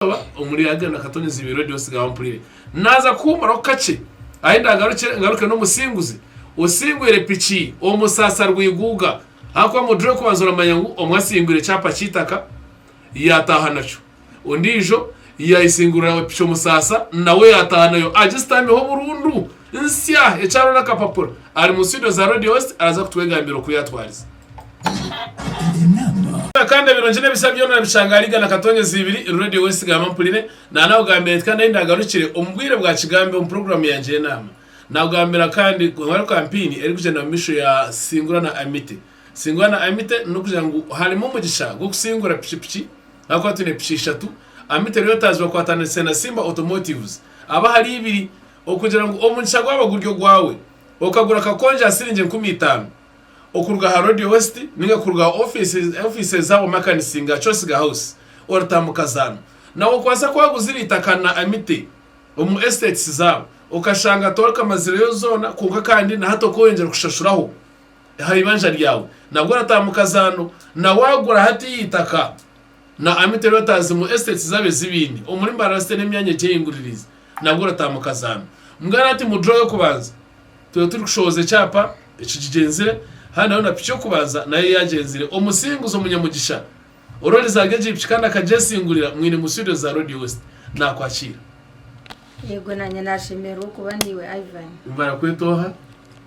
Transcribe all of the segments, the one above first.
Naaza kuba omuri Agenda Akatone Ziibi Radio Nsigaho Mpurire. Naaza kuhuumuraho kakye ahi ndaagarukire ngaruke n'omusinguzi osingwire piki omu Saasa Rwiguuga ahakuba mudure kubanza oramanya ngu omwe asingwire kyapa ky'eitaka yaataaha nakyo ondiijo yaayesingurira piki omu Saasa nawe yaataaha nayo agistamiho burundu. Nsya ekyaro n'akapapura. Ari mu studio za Radio Host araza kutwegambira oku yatwarize. Kandi ebirungi n'ebisya byona orabishanga ahari Igana Katonyezi ibiri, Radio Host Gamba Mpurire. Naanakugambira nti kandi ahi ndaagarukire omu bwire bwa Kigambe omu puroguraamu yangye y'enaama. Naakugambira kandi ngu hariho kampeyini erikugyenda omu maisho ya Singura na Amite. Singura na Amite n'okugira ngu harimu omugisha gw'okusingura piki piki ahakuba twine piki ishatu. Amite rero etaazirwe kwataniise na Simba Automotives. Aba ahari ibiri. okugira ngu omugisha gwaba guri ogwawe, okagura akakonje aha siringi enkumi itaano okuruga aha Road West ninga kuruga aha ofiisi eza Wamakanis nga Chosiga House, oratambuka zaanu. Nawe okwaasa kuba waguzire eitaka na amite omu estates zaabo okashanga torikamazireyo zoona kwonka kandi na hati okoyongyera kushashuraho aha ibanja ryaawe nabwo oratambuka zaanu na wagura hatiiya eitaka Na Amity rero tazi ngu estates zabo ezibine omuri Mbarasite n'emyanya egi eyinguririize nabwo orataha mu kazaame. Mugane ati mu draw y'okubanza tweye turi kushohoza ekyapa ekigigyenzire handi nawe na piki y'okubanza nayo yagyenzire. Omusinguzi omunyamugisha ororizaga egi piki kandi akagyesingurira mwine mu studios za Radio West nakwakiira. Yego nanye nashemererwa okuba naiwe Ivan. Barakweta oha?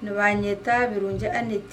Nibanyeta Birungi Annet.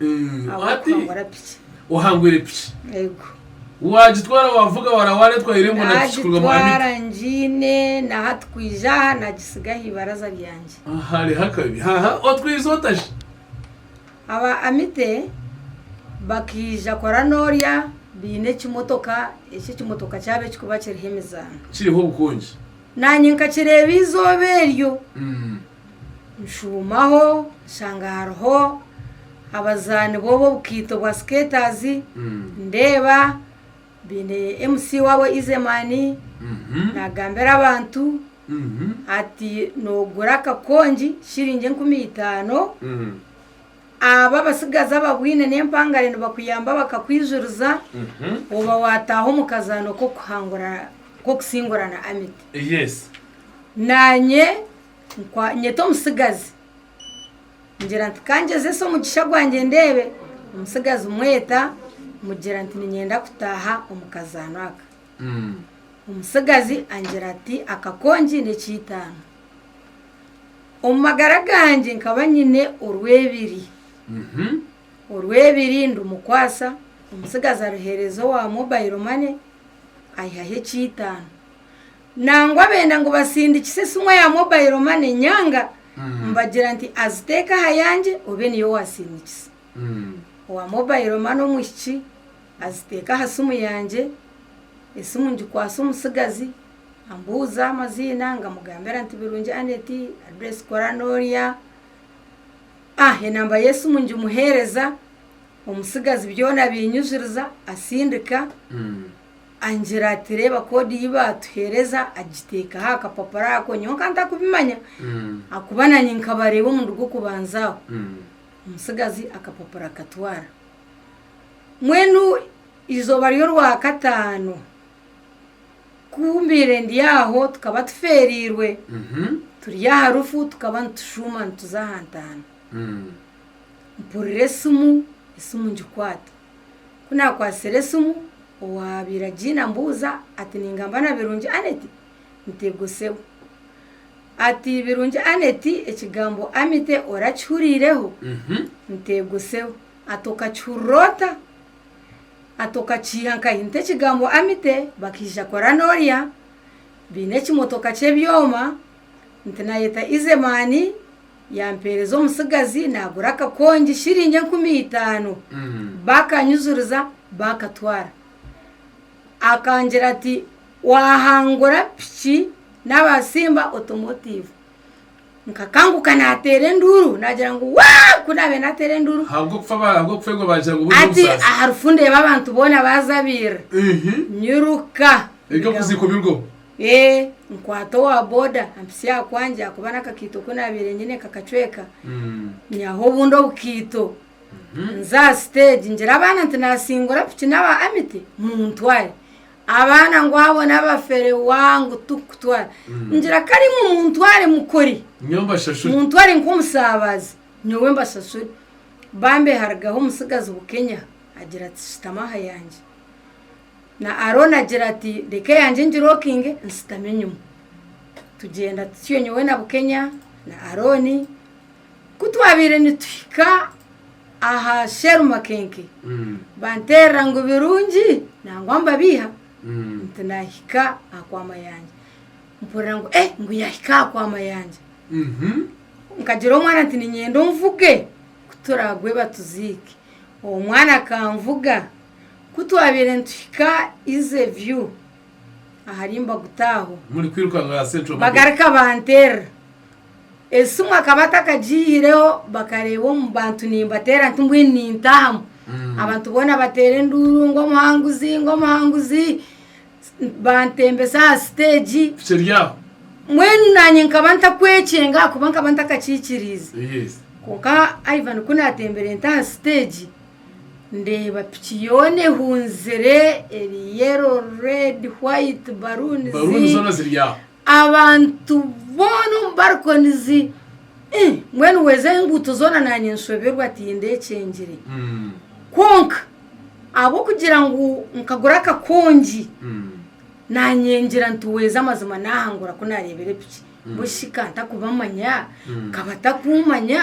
ahabw'okuhangura piki. Ohangwire piki? Ego. Waagitwara waavuga wara waareetwa aho irembo na piki kuruga mwanyika? Naagitwara ngiine na hati kwija aha naagitsiga aha ibaraza ryangye. Hariho akabi. Haaha otwize ota shi? Aba Amite bakaija kora noorya baine ekimotoka eki ekimotoka kyabo ekirikuba kiriho emizaano. Kiriho obukongi. Naanye nkakireeba eizooba eryo. Nshuumaho nshanga hariho abazaani booba obukaito bwa skaters ndeeba baine MC waabo Izeman nagambira abantu ati nogura akakongi shiringi enkumi itaano abo abatsigazi ababwaine n'empangare nibakuyamba bakakwijuriza oba wataaha omu kazaano k'okusingurana Amity. Naanye Nkwanyeta omutsigazi ngira nti kangyezese omugisha gwangye ndeebe, omutsigazi mweta mugira nti ninyenda kutaaha omu kazaano aka. Omutsigazi angira ati akakongi n'ekiitaano. Omu magara gangye nkaba nyine orwebiri. Orwebiri ndumukwasa, omutsigazi aruheereza owa mobile money, aihaho ekiitaano. Nangwa benda ngu basindikise esimu ya mobile money nyanga mbagira nti aziteeke aha yangye obe niyo wasindikisa. Owa mobile money omwishiki aziteeka aha simu yangye, esimu ngikwasa omutsigazi ambuuza amaziina ngamugambira nti Birungi Annet, address kora norya, enamba y'esimu ngimuhereza, omutsigazi byona abinyijiriza asindika. Angira ati, Reeba koodi ei baatuheereza. Agiteekaho aha kapapura ako, nyowe nka ntakubimanya ahakuba naanye nkabareeba omurundi gw'okubanza aho. Omutsigazi akapapura akatwara. Mbwenu eizooba ry'Orwakataano ku mbaire ndi aho tukaba tufeereirwe, turi aha rufu tukaba nitushuuma nituza aha ntaana. Mpurira esimu, esimu ngikwata. Ku naakwatsire esimu owaabaire agiine ambuuza ati, Ningamba na Birungi Annet? Ntegoseho. Ati, Birungi Annet ekigambo Amite orakihuriireho? Ntegoseho. Ati, Okakihurira ota? Ati, Okakiiha nkahi? Nti ekigambo Amite bakaija kora norya, baine ekimotoka ky'ebyoma. Nti naayeta Izemaani, yaampeereza omutsigazi, naagura akakongi shiringi enkumi itaano. Baakanyijuriza, baakatwara. Akangira ati, Waahangura piki naabatsimba otomotiivu. Nkakanguka naateera enduuru, naagira ngu, Waa! Ku naabaire naateera enduuru. Ahabw'okufeegwa baagira ngu buri omusaasi. Ati, Aha rufu ndeeba abantu boona baazabirira. Nyiruka. Egakuza ikumirweho. Ee, nkwata owa boda ampisye aha kwangye ahakuba n'akakaito ku naabaire nyine kakacweka. Nyaho obundi obukaito nze aha siteegi ngira abaana nti naasingura piki n'aba Amity muntware. Abaana ngu abo n'abafere wa ngu turikukutwara. Ngira kare imwe muntware mukore, Nyowe mbashashure. muntware nk'omusaabaazi nyowe mbashashure. Bambi harigaho omutsigazi Bukenya agira ati shutama aha yangye. Na Arooni agira ati, Reka eyangye ngirokinge nshutami enyima. Tugyenda tutyo nyowe na Bukenya na Arooni. Ku twabaire nituhika aha sherumakenke, banteerera ngu birungi nangwa mbabiiha nti naahika aha kwa Mayanja. Mpurira ngu ee ngu yaahika aha kwa Mayanja. Nkagira omwana nti niinyenda onvuge ku turaagwe batuziike. Omwana akanvuga. Ku twabaire nituhika Ize View ahari Mbaguta aho. Bagarika banteerera. Esimu akaba atakagiihireho bakareeba omu bantu nimbateera nti mbwenu nintaahamu. Abantu boona bateera enduuru ngu omuhanguzi ngu omuhanguzi. Bantembesa aha siteegi. Mbwenu naanye nkaba ntakwekyenga ahakuba nkaba ntakakiikiriize. Kwonka Ivan ku natembire nta aha siteegi. Ndeeba piki yoona ehunzire eri yellow, red, white, baruuni zi abantu boona omu barikonizi ii mbwenu weeza enguuto zoona naanye nshoberwa tihine ekyengire kwonka ahabw'okugira ngu nkagura akakongi naanye ngira nti weeza amazima naahangura ku naareebere piki mbwenu shi ka ntakumanya ka batakuumanya.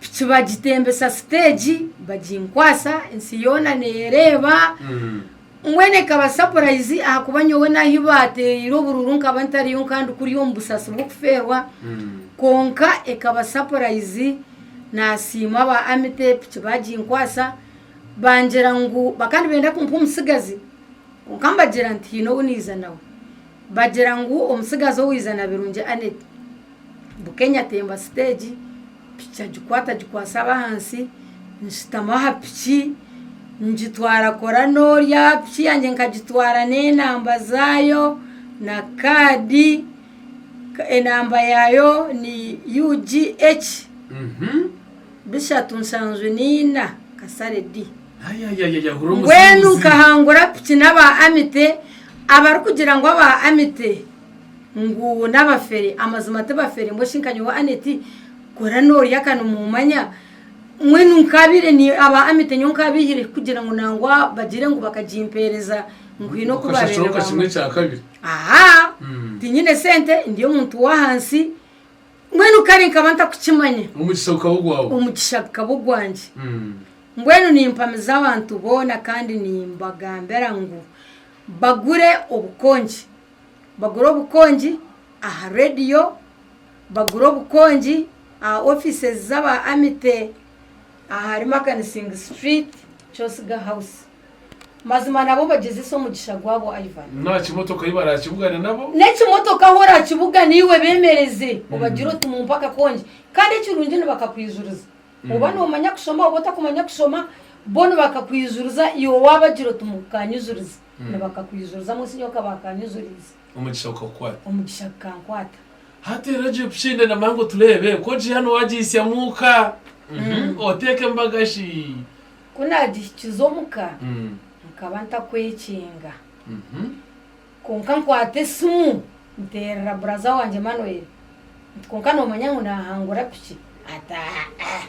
piki bagitembesa siteegi baginkwasa ensi yoona neereeba mbwenu ekaba sapurayizi ahakuba nyowe n'ahu baateereire obururu nkaba ntariyo nkaba ndi kuri omu busaasi bw'okufeerwa kwonka ekaba sapurayizi naasiima aba amite piki baginkwasa bangira ngu bakaba nibenda kumpa omutsigazi kwonka mbagira nti haine ou naiza nawe bagira ngu omutsigazi ou iza na Birungi Annet Bukenya atemba siteegi, piki agikwata agikwatsa abahansi, nshutama aha piki ngitwara kora n'ori aha piki yangye nkagitwara n'enamba zaayo na kaadi, enamba yaayo ni UGH bishatu nshanju naina kasare D. Mbwenu nkahangura piki n'aba Amite, abarikugira ngu aba Amite Ngu n'abafere? Amazima tibafere, mbwenu shi nka nyowe Annet kora norya ka nimumanya? Mbwenu nkaabaire ni aba Amit nyowe nkaabaihire kugira ngu nangwa bagire ngu bakagimpeereza ngu haine oku baabaire Okashashura nka kimwe nibaamanya. kya kabiri. Aha! Mm. Tinyine sente, ndi omuntu w'ahansi, mbwenu kare nkaba ntakukimanya. Omugisha gukaba ogwawe. Omugisha gukaba ogwangye. Mm. Mbwenu nimpamiza abantu boona kandi nimbagambira ngu bagure obukongi. bagura obukongi aha rediyo, bagura obukongi aha ofiisi z'aba Amite ahari Makanisingi Situriiti, Kyosiga Hawusi. Mazima nabo nibagyezeesa omugisha gwabo, Ivan. N'aha kimotoka ahu baraakibugane nabo. N'ekimotoka ahu oraakibugane iwe beemereze, obagire oti mumpe akakongi. Kandi ekirungi nibakakwijuriza. Oba noomanya kushoma oba otakumanya kushoma, bo nibakakwijuriza iwe waabagira oti mukanyijurize. nibakakwizurizamu osinya okaba akanyuzuriize. Omugisha gukakukwata. Omugisha gukankwata. Hati rero ogira obushende na Mango tureebe ku ogiiha na owagihisya mu ka. Oteeka embaga shi. Ku naagihikiza omu ka, nkaba ntakwekinga. Kwonka nkwata esimu nteerera buraza wangye Emmanuel. Nti, Kwonka noomanya ngu naahangura piki? Ati, Aa-a.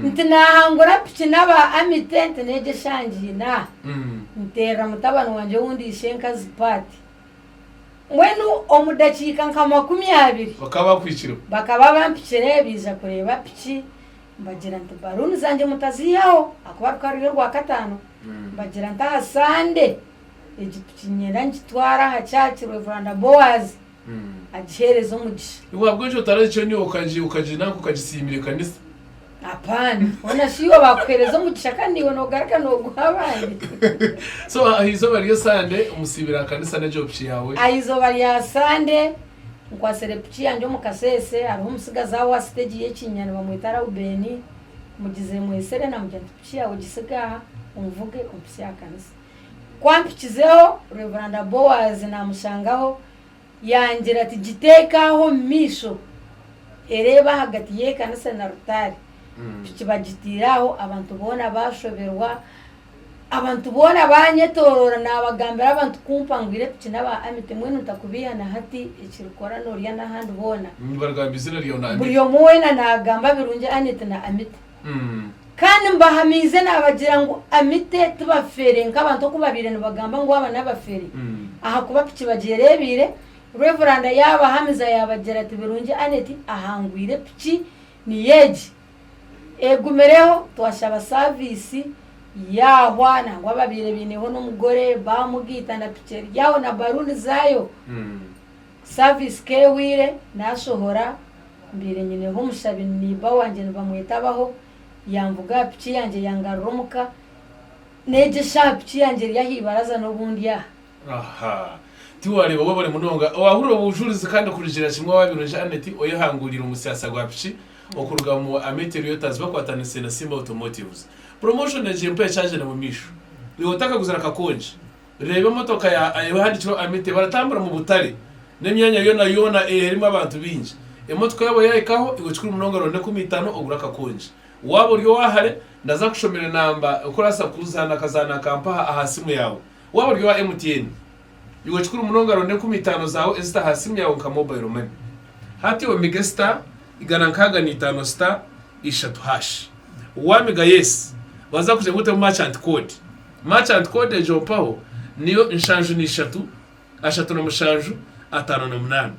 Nti, Naahangura piki n'aba Amite nti n'egi eshangiine aha. Nteerera mutabani wangye owundi ishenkazi Pat. Mbwenu omu dakiika nka makumi abiri. Bakaba bakwikireho. Bakaba bampikire baija kureeba piki. Mbagira nti, Baluuni zangye mutaziihaho ahakuba rukaba ruri Orwakataano. Mbagira nti, Aha Sande egi piki niinyenda ngitware aha kyaki, Rev. Boaz. agiheereze omugisha. Iwe ahabw'enki otaragicenuye okagina nanka okagisiimira ekanisa? Apaana, hoona shi iwe baakuheereza omugisha kandi naiwe noogaruka nooguha abandi? So aha izooba ry'e Sande omusiibire aha kanisa n'egyo piki yaawe? Aha izooba rya Sande nkwatsire piki yangye omu Kaseese hariho omutsigazi aho aha siteegi y'e Kiinya nibamweta Raubeni. Mugize mwesere naamugira nti, Piki yaawe gitsige aha, onvuge ompisye aha kanisa. Ku ampikizeho, Reveranda Boaz naamushangaho, yaangira ati, Giteeke aho omu maisho, ereeba ahagati y'ekanisa na rutaari. Piki bagitaire aho, abantu boona baashoberwa. Abantu boona baanyetoroora, naabagambira abantu kumpa ngu ire piki n'aba Amity. Mbwenu ntakubeiha na hati, ekirikukora noorya n'ahandi boona. Buri omwe weena naagamba birungi Annet na Amity. Kandi mbahamiize naabagira ngu Amite tibafere, nk'abantu oku baabaire nibagamba ngu aba n'abafere, ahakuba piki bagyera ebiire. Reveranda yaabahamiza yaabagira ati, Birungi Annet ahangwire piki niyo egi. Egumireho, twashaba saaviisi yaahwa nangwa abaabaire baineho n'omugore baamugaita na piki eri aho na baluuni zaayo. Service k'ehweire nasohora mbeire nyineho omushabi ni neighbor wangye nibamweta Abaho yamvuga aha piki yangye yangarura omuka n'egi eshaaha piki yangye eri aha ibaraza n'obu ndi aha. Aha. Tiwareeba wabare munonga owahurira obujurizi kandi kurugira kimwe owaabaire oija Annet oyehanguuriire omusiyaasa gwa piki okuruga mu Amete Riotas bakwatanise na Simba Automotives. Promotion egyo empaa ekyagyenda mu maisho. Iwe otakaguzire akakongi. Reeba emotoka ya Ayewa ehandikirweho Amite baratambura mu butare n'emyanya yoona yoona eerimu abantu baingi. Emotoka yaabo yaahikaho iwe kikuru munonga ronda enkumi itaano ogure akakongi. Waaba ori owa hare, ndaza kushomera enamba oku orabaasa kuzaana akazaano aka mpaha aha siimu yaawe. Waaba ori owa MTN, iwe kikuru munonga ronda enkumi itaano zaawe ezite aha siimu yaawe nka mobile money. Hati omige star igana nkaaga na itaano star ishatu hash. Waamiga yes, baza kugira ngu otemu merchant code. Merchant code egyo mpaho niyo nshanju na ishatu, ashatu na mushanju, ataano na munaana.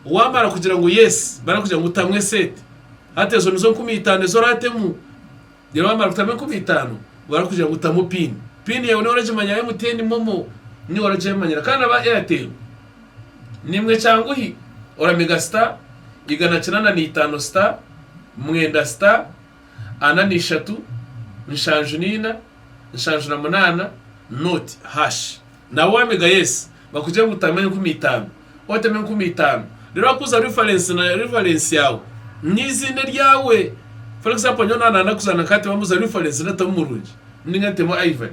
Waamara kugira ngu yes, barakugira ngu tamu eseete. Hati ezo nizo nkumi itaano ezi oraatemu. Reero waamara kutamu enkumi itaano, barakugira ngu tamu pin. Pin yaawe niiwe oragimanya ya MTN, Momo, niiwe oragyemanyira. Kandi aba Airtel, niimwe kyanguhi, oramega star, igana kinaana na itaano star, mwenda star, ana na ishatu, nshanju na ina, nshanju na munaana noti hash nawe wamega yes bakugire ngu tama enkumi itaano otema enkumi itaano reero wakuza reference na reference yaawe neiziina eryawe for example nyowe naba nayenda kuzaana nka hati bambuza reference netamu murungi ninga nitemu Ivan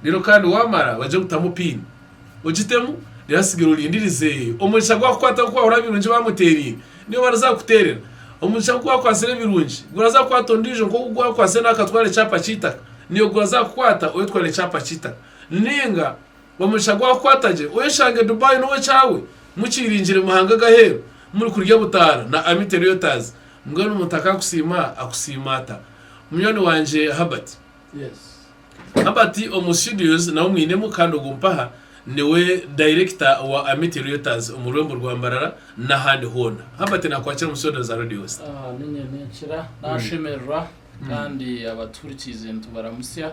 reero kandi wamara bagire ngu tamu pin. ogitemu reero atsigare orindirize omugisha gwakukwataho ku waahurira ebirungi baamuteeraire niyo bariza kukuteerera. Omugisha ku gwakwatsire ebirungi guraza kukwata ondiijo nk'oku gwakwatsire nawe akatwara ekyapa ky'eitaka niyo guraza kukukwata oyetware ekyapa ky'eitaka. Nainga omugisha gwakukwata gye oyeshange Dubai niwe kyaawe mukyiringire mu mahanga g'aheeru murikurya butaara na Amity Realtors mbwenu omuntu akaakusiima akusiima ata munywani wangye Herbert? Yes. Haba ati omu studios naho mwinemu kandi ogu mpaha niwe dayirekita wa Amity Reuters omu rwembo rwa Mbarara n'ahandi hoona. Haba ati nakwakira omu studio za Radio Star. Aha niinye ninkira nashemererwa kandi abatuhurikiize nitubaramutsya.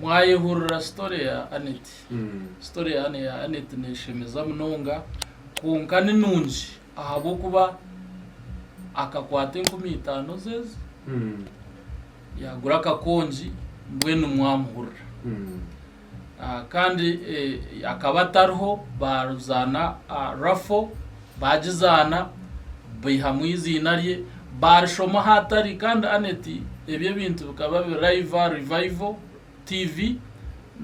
Mwayehurira story ya Annet? Story ya Annet neshemeza munonga kwonka ni nungi. Ahabw'okuba akakwata enkumi itaano z'ezi, yaagura akakongi, mbwenu mwamuhurira. Kandi akaba atariho, baazaana rafo, baagizaana, baihamu eiziina rye, baarishoma ahaatari. Kandi Annet, ebi ebintu bikaba biri live, revival, TV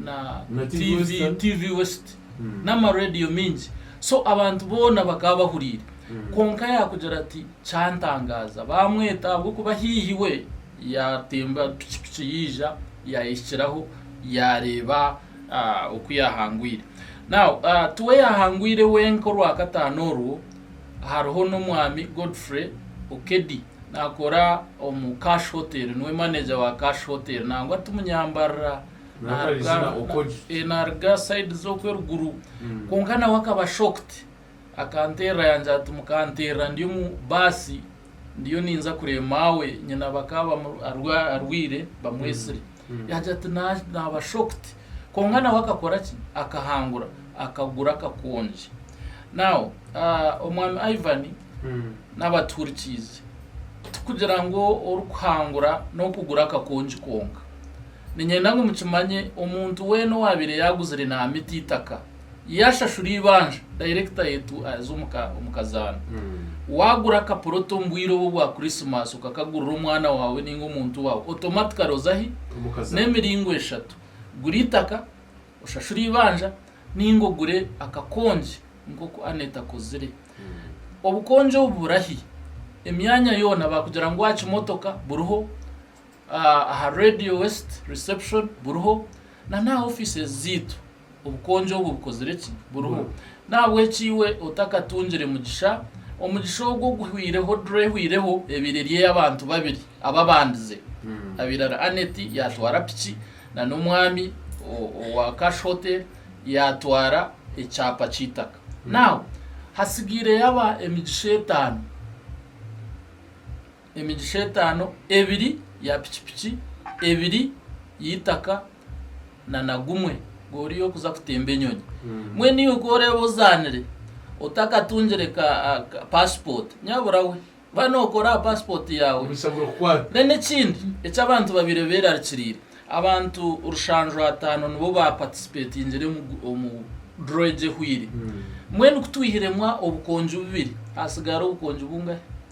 na Na TV TV, Western. TV West Mm. n'amaradiyo mingi so abantu boona bakaba bahuriire Mm. kwonka yaakugira ati kyantangaaza baamweta ahabw'okuba haihi we yaatemba pikipiki yaija yaayehikiraho yaareeba ah, oku yaahangwire Now, ah, tiwe yaahangwire wenka orwakataano orwo hariho n'omwami Godfrey Okedi Nakora omu Cash Hotel, niwe manager wa Cash Hotel nangwa timunyambarira. Naruga naruga side zoku eruguru. Kwonka nawe akaba shocked. Akanterra yangira ati mukanterra ndi omu bus ndiyo ninza kureba maawe nyina bakaba arwaire bamwesire. Yaagira ati, Naaba shocked. Kwonka nawe akakora ki? Akahangura, akagura akakongi. Now, ah, Omwami Ivan n'abatuhurikiize, tikugira ngu orikuhangura n'okugura akakongi kwonka. Niinyenda ngu mukimanye, omuntu weena owaabaire yaaguzire naamita eitaka, yashashura eibanja dayirekita yaitu aza omu kazaana. Waagura akaporoto omu bwire obwo bwa Kurisimaasi okakagurira omwana waawe nainga omuntu waawe, otomatikare oza ahi? N'emiringo eshatu. Gura eitaka, oshashure eibanja, nainga ogure akakongi nk'oku Annette akozire. Obukongi obu buri ahi? Emyanya yoona baakugira ngu aha kimotoka buriho, aha Radio West reception buriho, na n'aha ofiisi zaitu. Obukonjo obwo bukozire ki? Buriho. N'ahabw'ekyo iwe otakatungire mugisha, omugisha ogwo oguhweireho dura ehweireho ebaire eri ey'abantu babiri ababandize. Abirara Annet yaatwara piki na n'omwami owa Cash Hotel yaatwara ekyapa ky'eitaka. Now, hatsigaireyo aba emigisha etaano. Emigisha etaano, ebiri ya pikipiki, ebiri y'eitaka na na gumwe gori y'okuza kutemba enyonyi. Mbwenu iwe ku oreeba ozaanire otakatungire ka ka passport nyabura we ba nokora aha passport yaawe. Omugisha gurikukwata. Then ekindi eki abantu babaire beerarikiriire, abantu rushanju ataano nibo ba participatingire omu omu draw egi ehweire. Mbwenu ku twihiremu obukonjo bubiri, haatsigara obukonjo bungahe?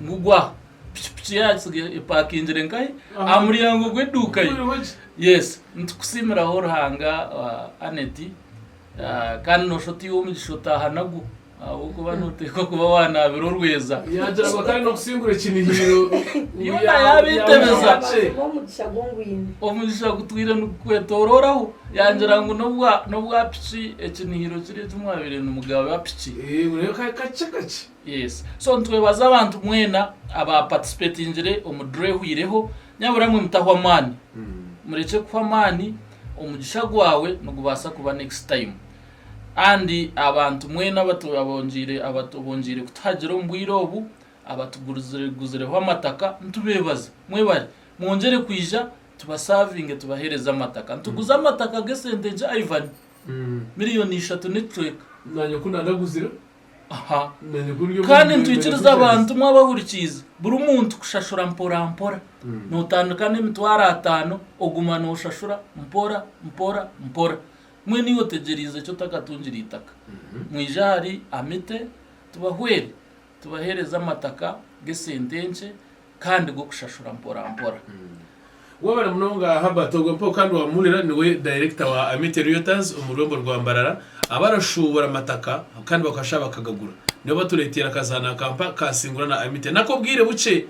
Mugwa. Pikipiki ye yaatsiga epakingire nkahi? Aha muryango gw'eduuka ye. Yes. Nitukusiimiraho Ruhanga ah, Annet. Ah, kandi noosha otaiha omugisha otaaha nagwo. Ahabw'okuba nooteekwa kuba waanaabire orweza. Yaagira ngu akaba aine okusingura ekinihiiro. Yoona yaaba etebeza. Abaantu b'omugisha gwo ngwine. Omugisha gutwire nigukwetoororaho. Yaagira ngu n'obwa n'obwa piki ekinihiiro kiri eki mwabaire nimugaba piki. Eeh, oreebe ka- kakye kakye. Yes so nitwebaza abantu mwena aba participatingire omu draw ehwireho nyabura mwe mutahwa amaani murekye kuhwa amaani omugisha gwawe nigubaasa kuba next time and abantu mwena abatu abongiire abatu abongiire kutuhagira omu bwire obu abatugurize guzireho amataka nitubebaza mwebare mwongyere kwija tubasavinge tubahereze amataka nituguza amataka g'esente nkye Ivan million ishatu n'ekicweka. Nanye ku nagaguzire. Aha. Kandi nitwikiriza abantu mwabahurikiize, buri muntu kushashura mpora mpora. Notandika n'emitwaro ataano oguma noshashura mpora mpora mpora. Mbwenu iwe otegyereize ki otakatungire eitaka? Mwije ahari Amite tubahwere, tubahereze amataka g'esente enkye kandi g'okushashura mporampora. Wabare munonga Herbert ogwe mpaho kandi wamuhurira niwe Director wa Amity Realtors omu rurembo rwa Mbarara abarashuubura amataka kandi bakashuha bakagagura. Nibo batureteire akazaano aka mpa ka Singura na Amity n'ak'obwire bukye.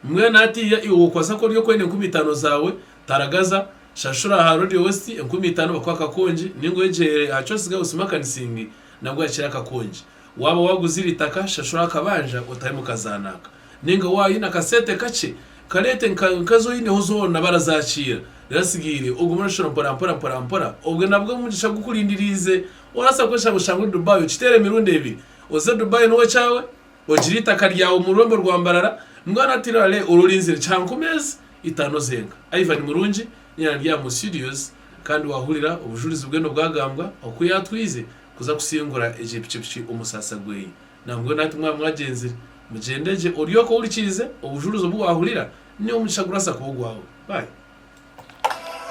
Mbwenu hatiiya iwe wokubaasa kuba ori okwenda enkumi itaano zaawe, taragaza, shashura aha Road West enkumi itaano bakuhe akakongi, ninga ogyere aha Coast Girls Makanising nabwo ohakire akakongi. Waaba waaguzire eitaka, shashura akabanja otaahe mukazaana aka. Ninga waaba oine akasente kakye, kareete nka ezi oineho zoona barazaakiira. Reero atsigaire, ogume noshashura mporampora mporampora. Obwe nabwo omugisha gukurindiriize. Orabaasa kweshanga oshange ori Dubai okiteera emirundi ebiri. Oze Dubai nyowe kyawe, ogire eitaka ryawe omu rurembo rwa Mbarara, mbwenu hati rale ore orinzire kya nka omeezi itaano zenka. Ivan Murungi, nyaanya ndi aha Mu Studios, kandi waahurira obujurizi bwe nobwagambwa oku yaatwize kuza kusingura egyo pikipiki omu saasa gweye. Nambwenu nati mwaba mwagyenzire, mugyende gye oryoke ohurikirize obujurizi obu wahurira, ni omugisha gurasa kuba ogwawe. Bye.